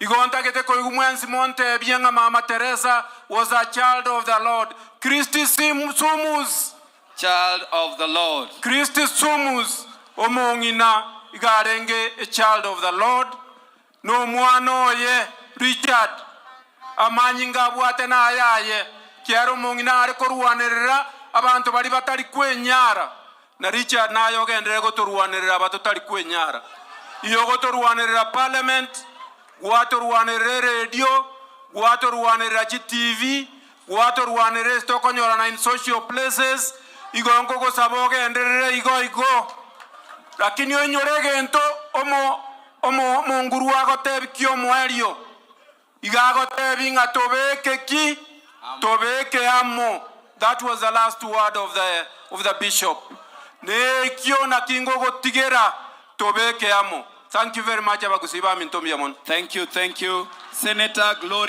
Igo ntagete koigwa mwensi monteebie ng'a Mama Teresa was a child of the Lord. Christi Sim Sumus! Child of the Lord. Christi Sumus! Omong'ina iga arenge a child of the Lord, na omwana oye, Richard, amanyinga abwate nayaye. Kiaro omong'ina are korwanerera abanto baria batari kwenyara. Na Richard naye ogenderere gotorwanerera aba totari kwenyara. Iyo gotorwanerera parliament, gwatorwanerera eredio, gwatorwanerera chi TV, gwatorwanerera ase tokonyorana in social places, igo nkogosaba ogenderere igo igo. Lakini oinyore egento omo omo omonguru agotebikie omoerio. Iga agotebi ng'a tobeke ki? Tobeke amo. That was the last word of the of the bishop. Ne ekio naki ngogotigera tobeke amo. Thank you very much abagusii baminto mbuya mono. Thank you, thank you, Senator Gloria.